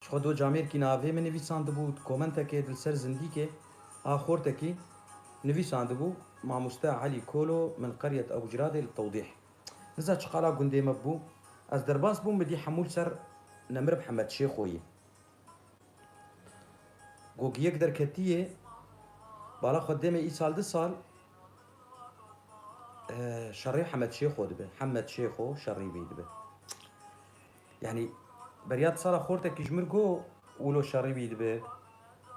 Ji xwe do camêrkî navê min nivîsandibû, di komentekê di li ser zindîkê a Xortekî nivîsandibû, Mamoste Elî Kolo min qeriyet Ebu Ciradê li tewdîh. Niza çi qala gundê me bû, ez derbas bûm midî hemû li ser Nemir Mihemed Şêxoyî. Gog yek derketiyê bala xwe dê me îsal du sal şerê Hemed Şêxo dibe. Hemmed Şêxo şerî vî dibe. Yanî beriya di sala xortekî ji min got wilo şerî wî dibe.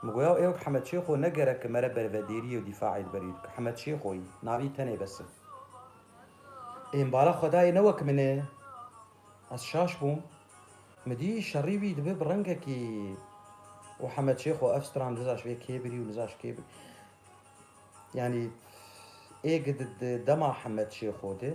Min got yaw ê wek Hemed Şêxo ne gerek e mere bervedêriyê û dîfaê li ber wî bike. Hemed Şêxo yî. Navî tenê bes e. Ê min bala xwedayê ne wek min e. Ez şaş bûm. Min dî şerî wî dibe bi rengekî û Hemed Şêxo ev stran nizaş vê kê birî û nizaş kê birî. Yanî ê gidi di dema Hemed Şêxo de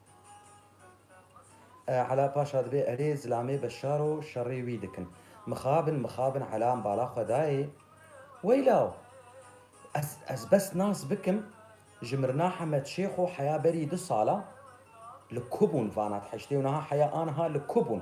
Ela paşa dibê erê zilamê beşaro şerê wî dikin. Mixabin mixabin ela em bala xwe dayê. Weylaw! Ez ez bes nas bikim ji Mirna Hemed Şêxo heya berî du sala li ku bûn vana dihiştê û niha heya aniha li ku bûn?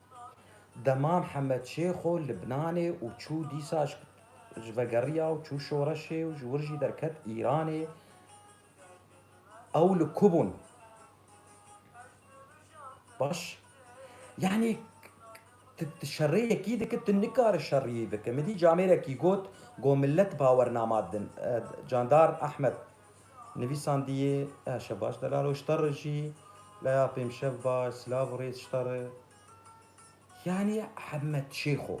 Dema Mihemed Şêxo li Bnanê û çû dîsa ji vegeriya û çû şoreşê û ji wir jî derket Îranê ew li ku bûn? Baş yanî tu şerêyekî dikî tu nikare şerîyî bikî. Min dît camêrekî got ku millet bawernama din. Candar Ahmed. Nivîsandiyê, Erşe Baş Delalo Şter jî laya Pêmşev Baş, Silav Rêz Şter yanî Hemed Şêxo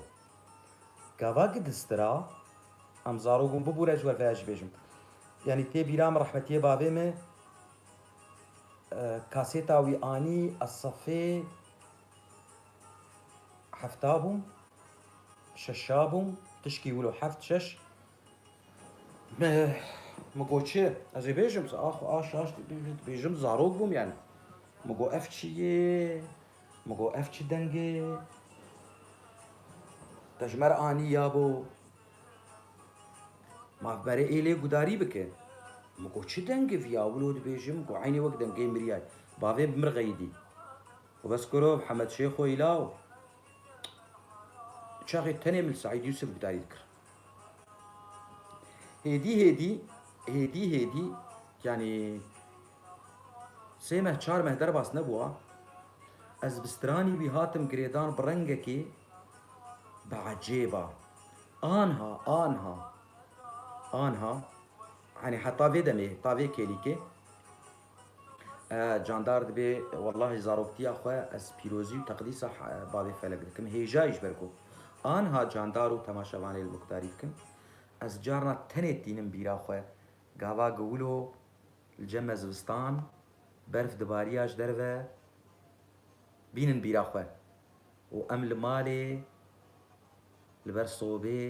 gava ki distira em zarok bûn bibûre ji we vêya jî bêjim. Yanî tê bîra min rehmetiyê bavê min kasêta wî anî ez sefê hefta bûm, şeşa bûm, tişkî wilo heft şeş. Min got çi? Ez ê bêjim ax aş aş dibêjim zarok bûm yani. Min got ev çi yê? Min got ev çi dengê? Te ji me re anî ya bo. Ma berê êlê gudarî bike. Min got çi dengê vî ya wilo dibêjim? Min got eynê wek dengê miriyay. Bavê bi mirxeyî dî. Xwe bes kiro Hemed Şêxo îlaw. Çaxê tenê min li Seîd Yûsif gudarî dikir. Hêdî hêdî, hêdî hêdî yanî sê meh çar meh derbas nebûa. Ez bi stranî wî hatim girêdan bi rengekî bi ecêba. Anha, anha, anha yanî heta vê demê, heta vê kêlîkê Eh candar dibê wellahî zaroktiya xwe ez pîrozî û teqdîsa bavê felek dikim hêja yî ji ber ku anha candar û temaşevanê li mukdarî dikim ez carna tenê tînim bîra xwe gava giwilo li cem e zivistan berf dibarîya ji derve bînin bîra xwe. Û em li malê li ber sobê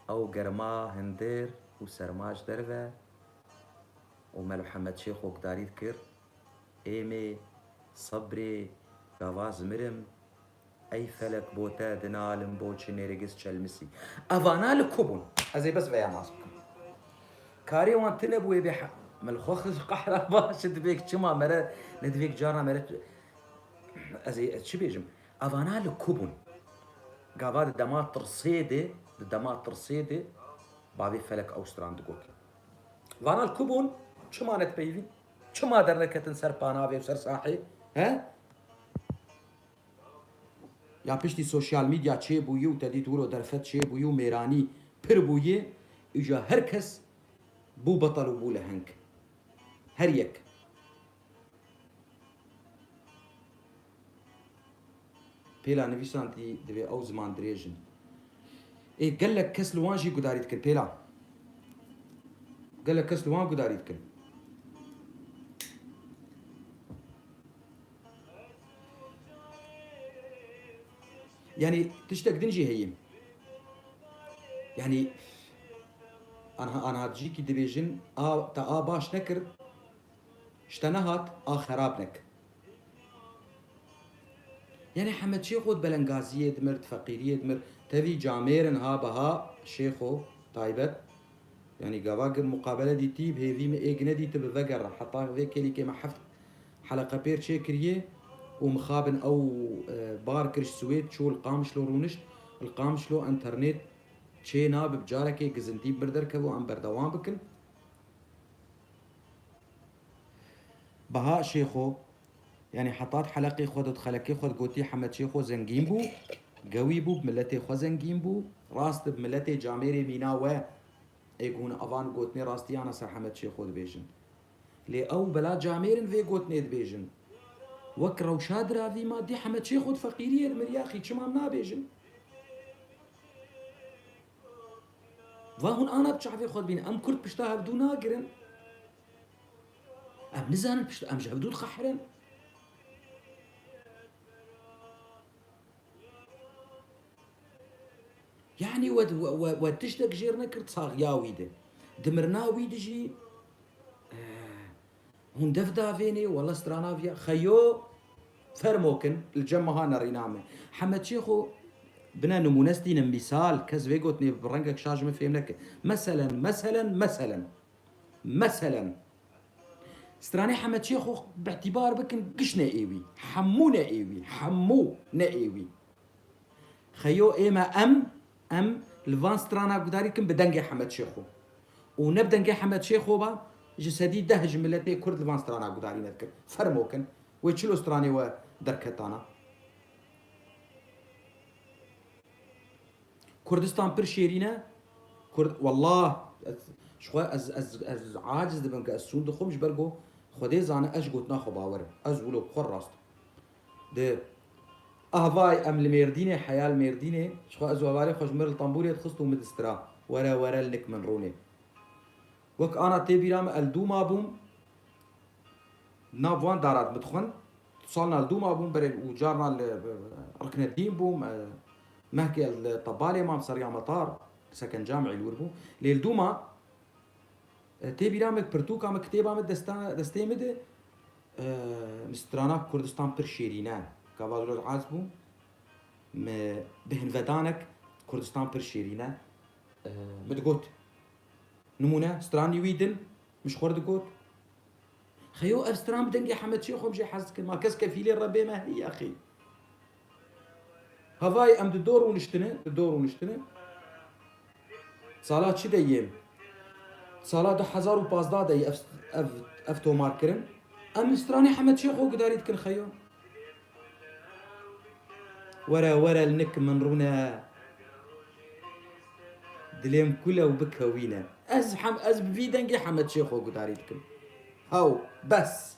ew germa hindir û serma ji derve û me li Hemed Şêx hokdarî dikir, Êmê, sebrê, gava zimirim, ey felek bo te dinalim bo çi nêrgiz çelmisî. Evana li ku bûn? Ez ê bes veya nas bikim. Karê wan tune bû ê bê heq. Me li xwe xwe qehra ba, çi divêk çima me re ne divêk carna me re Ez ê ez çi bêjim? Evana li ku bûn? Gava di dema tirsê de, di dema tirsê de bavê Felek Awstran digot. Vana li ku bûn? Çima ne dipeyivîn? Çima derneketin ser panavê û ser sahê? He? Ya piştî sosyal medya çêbûyî û te dît wilo derfet çêbûyî û mêranî pir bûyî, îja her kes bû betel û bû leheng. Her yek. Pêla nivîsan tî divê ew ziman dirêj in. Ê gelek kes li wan jî gudarî dikin pêla. Gelek kes li wan gudarî dikin. Yanî tiştek din jî heye. Yanî anha anha dijîkî dibêjin a te a baş nekir Ji te nehat a xerab nek. Yanî Hemed Şêxo di belengaziyê dimir, di feqîriyê dimir. Tevî camêrin ha beha Şêxo taybet. Yanî gava gi muqabele dîtî bi hêvî min ê gi nedîti bi vegera. Heta vê kêlîkê me heft heleqe pêr çêkiriye û mixabin ew bar kir ji Swêd çû li Qamişlo rûnişt. Li Qamişlo enternêt çê nabib. Carekê gizintî bi mir derkevû em berdewam bikin. Baha Şêxo, yanî hetat heleqê xwe de di xelekê xwe de gotî Hemed Şêxo zengîn bû, gewî bû, bi miletê xwe zengîn bû. Rast e bi miletê camêrê mîna we ê ku hûn avan gotinê rastiyan e ser Hemed Şêxo dibêjin. Lê ew bela camêr in vê gotinê dibêjin. Wek rewşa diravî ma dî Hemed Şêxo di feqîriyê de miriya xî çima em nabêjin? Van hûn ana bi çavê xwe dibînin. Em kurd pişta hev dû nagirin. Em nizanin pişta em ji hev dû dixehirin. Yani we we we tiştek jêr nekir saxya wî di. Dimirina wî dijî Hûn dev davênê walla strana viya xeyo fermo kin li cem meha nerîna me. Hemed Çêxo bine nimûne stînin mîsal kes vê gotinê bi rengek şaş min fêm neke. Meselen meselen meselen meselen stranê Hemed Çêxo bi'tîbar bikin giş ne êwî hemû ne êwî hemû ne êwî xeyo ême em Em li van strana gudarî kin bi dengê Hemed Şêxo û ne bi dengê Hemed Şêxo ba ji sedî deh ji miletê kurd li van strana gudarî ne dikin. Fermo kin wê çilo stranê we derketana. Kurdistan pir şêrîn e. Kurd wallah ez ji xwe ez ez ez aciz dibim ke ez sûn dixwim ji ber ku Xwedê zane ez ji gotina xwe bawer im. Ez wilo bi xwe rast im. Di Ahvay em li Mêrdînê heya li Mêrdînê jixwe ez û hevalên xwe ji mir li tembûrê dixist û min distira were were li nik min rûnê. Wek ana tê bîra min el dû ma bûm li nav wan dara di min dixwend. Tu salina li dû ma bûm berê û carna li Riknedîn bûm. Mehkê ez li Tebalê mam seriya Metar sekenca min îlwir bû. Lê li dû ma tê bîra min pirtûka min kitêba min destê min de Mi strana Kurdistan pir şêrîn e. Gava zor ez bû. Mi bi hinvedanek Kurdistan pir şêrîn e. Mi digot. Nimûne stranî wî din min ji xwe re digot. Xeyo ev stran bi dengê Hemed Şêxo min jê hez dikim. Ma kes kefîlê rebê me heye xê. Hevayê em di do rûniştine, di do rûniştine. Sala çi de yê? Sala du hezar û pazdeh de yê ev ev tomar kirin. Em li stranê Hemed Şêx xwe gudarî dikin xeyo. Were were li nik min rûne. Dilêm kule û bikewîne. Ez hem ez bi vî dengê Hemed Şêx xwe gudarî dikim. Hew bes.